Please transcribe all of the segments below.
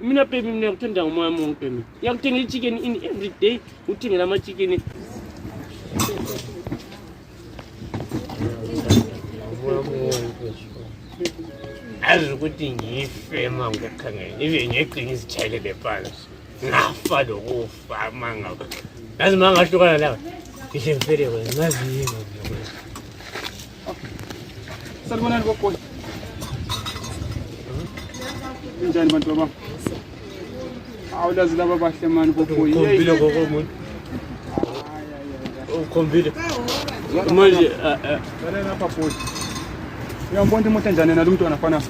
mina baby mina ngiyakuthanda ngomoya wami wonke mina ngiyakuthengela i-chicken in every day uthengela ama-chicken azi ukuthi ngife ma ngikukhangela ibe ngegcina izitshayele le phansi ngafa lokufa ma ngaba ngazi ma ngahlukana lawa ngihle ngifele wena ngazi yini Salibonani bogoyi. Injani bantu baba? Awulazi laba bahle mani bogoyi. Ukhombile gogo umuntu. Ukhombile. Manje eh eh. Bale lapha bogoyi. Uyambona imoto enjani nalo mntwana fana?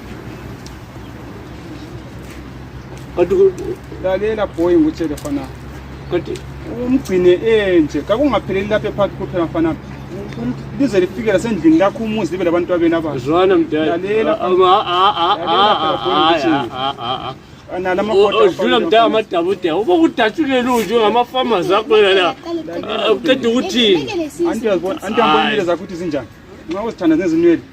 kodwa lalela boy ngikutshele mfana kodwa umgcine enje kakungapheleli lapha ephakathi kuphela mfana lize lifike lasendlini lakho umuzi libe labantu abeni abazwana mdalalela udlula mdala amadabude uba kudatshulele unje ngamafama zakho yena uqeda ukuthini anti uyazibona anti uyambonile zakho ukuthi zinjani nxa uzithanda nezinwele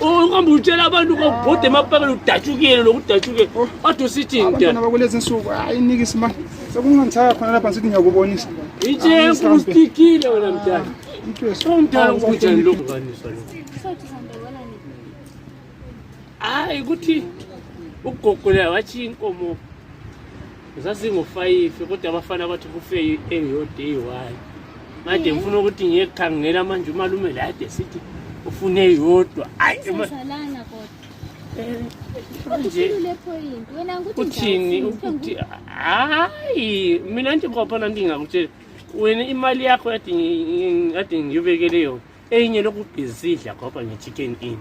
uhamba utshela abantu babhode emapakeni udatshukile lokudatshukile oh. ade usithini abantwana bakulezi nsuku hayi nikisi mani sekungangisaya khona lapha sithi ngiyakubonisa itshefu usitikile wena mdala omdala kunjani lokhu kaniswa lokhu hayi ukuthi ugogolela wathi inkomo zazingofayifi kodwa abafana bathi kufe eyodwa eyi-one made ngifuna ukuthi ngiyekhangela manje umalume lade sithi ufune eyodwa uthini ukuthi hayi mina nje kwaphana ndingakutshela wena imali yakho yade ngiyobekele yona enye lokubhizidla goba nge-chicken in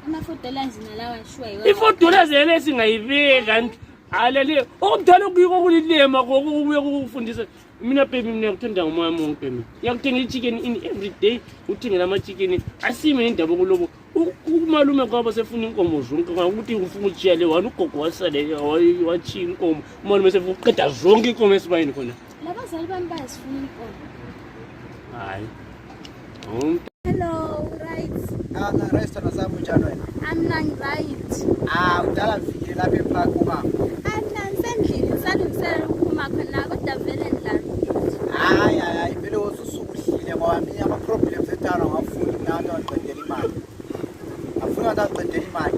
i-four dollars yena esingayibeka alele okudala okuyiko kulilema kokubuye kukufundisa mina baby mina ngikuthanda ngomoya mungu baby ngiyakuthengela i-chicken in every day uthengela ama-chicken asime indaba kulobo umalume kwabo sefuna inkomo zonke ukuthi ufuna utshiya le wani ugogo wasale watshiyile inkomo umalume sefuna uqeda zonke inkomo esibayini khona Labazali bami bayasifuna inkomo. Hayi. Umuntu Hello, right. Ah, na restaurant zabo njalo wena. I'm not right. Ah, udala vile lapha epark umama. I'm not sendlini ngisalungiselela ukuphuma khona kodwa vele ndlala. Hayi hayi hayi vele wosusukuhlile ngoba mina ama problems etara ngafuni mina nto aqedela imali. Afuna nto aqedela imali.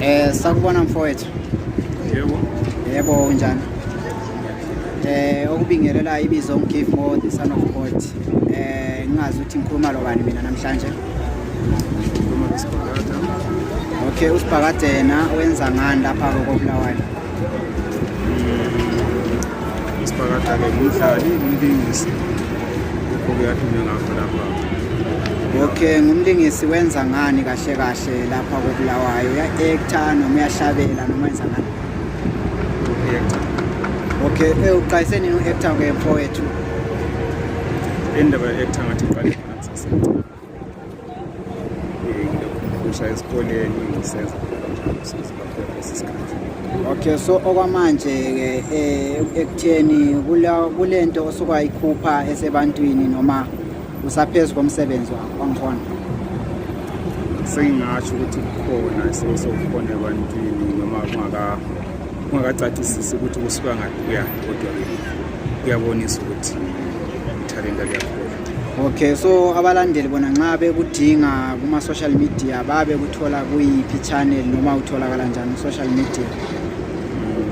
Eh sakubona mfowethu. Yebo. Yebo unjani? Eh okubingelela ibizo ngigive more the son of God. Eh ngingazi ukuthi ngikhuluma lo bani mina namhlanje. Okay usibhakadena wenza ngani lapha kokubulawayo? isibhakada-ke ngumdlali umlingisi lokho-ke adume ngakho lapha okay ngumlingisi wenza ngani kahle kahle lapha kobulawayo uya-ekta noma uyahlabela noma wenza ngani okay eh, uqayise nini u-ekta-ke mfowethu indaba ye-ekta ngathi iqale ngilokhusha esikoleni ngisenza okay so okwamanje-ke eh, ekutheni kule nto osukayikhupha esebantwini noma usaphezu komsebenzi wakho angikhona sengingasho ukuthi kukhona isimo sokukhona ebantwini noma kungakacacisisi ukuthi kusuka ngaphi kuyaphi kodwa kuyabonisa ukuthi ithalenta liyakhona okay so abalandeli bona nxa bekudinga kuma-social media babe kuthola kuyiphi channel noma utholakala njani social media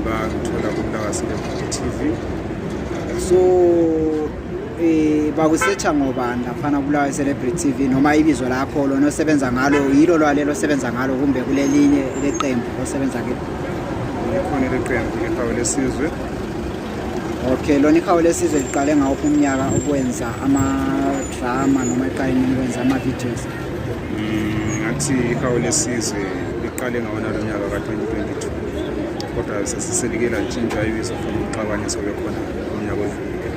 bakuthola kumlakasilebhuku tv so um eh, bakusetsha ngobani laphana kulawa celebrity tv noma ibizo lakho lona osebenza ngalo yilo lwalelo osebenza ngalo kumbe kulelinye leqembu osebenza kilo likhona leqembu lehawu lesizwe Okay, lona ikhawo lesizwe liqale ngawuphi umnyaka ukwenza ama-drama noma liqale nini ukwenza ama-videos Mm, ngathi ikhawu lesizwe liqale ngawona lo nyaka ka-2022 kodwa sesiselikela ntshintsha ibizo from uxabane sobe khona unyaka odlulile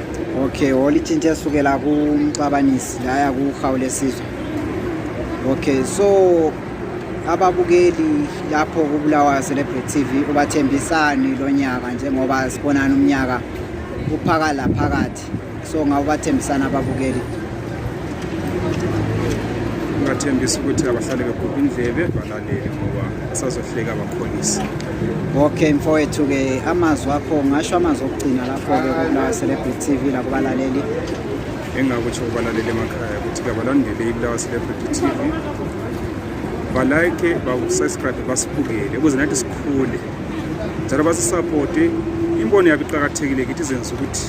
okay olitshintshe esukela kumxabanisi laya kuhawu lesizwe okay so ababukeli lapho kubulawa celebrity tv ubathembisani lo nyaka njengoba sibonana umnyaka uphaka la phakathi so ngawubathembisana ababukeli ngathembisa ukuthi abahlale beguqa indlebe balalele ngoba asazohleka abakhonisi okay mfowethu-ke amazwi akho ngasho amazwi okugcina lapho-ke kubulawa celebrity tv lakubalaleli engakutsho kubalaleli emakhaya ukuthi kabalandele ibulawa celebrity tv balike basubscribe basibukele ukuze nathi sikhule njalo basisapote imbono yabo iqakathekile kithi izenza ukuthi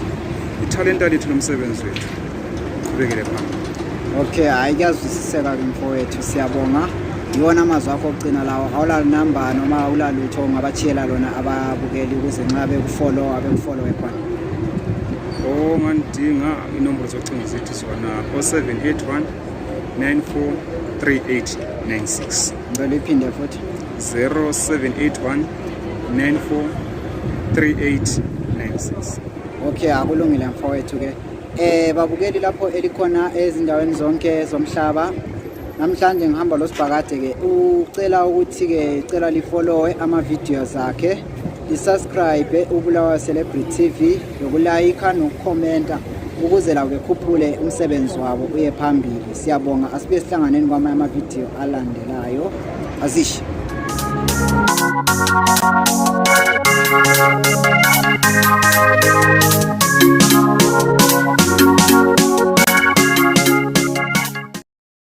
ithalenta lethu lomsebenzi wethu uqhubekele phambili okay hayi kuyazwisiseka ke mfowethu siyabonga yiwona amazwi akho okugcina lawo awulalunamba noma awulalutho ungabachiyela lona ababukeli ukuze nxa bekufolowa bekufolowe khona ongandinga inombolo zocingo zethu zona o-781 943896 ngicela iphinde futhi 0781 943896 okay akulungile mfowethu ke eh babukeli lapho elikhona ezindaweni zonke zomhlaba namhlanje ngihamba losibhakade ke ucela ukuthi ke cela lifollowe ama videos akhe isubscribe ubulawa celebrity tv nokulayikha nokukhomenta ukuze lawo bekhuphule umsebenzi wabo uye phambili siyabonga asibe sihlanganeni kwamanye amavidiyo alandelayo azishe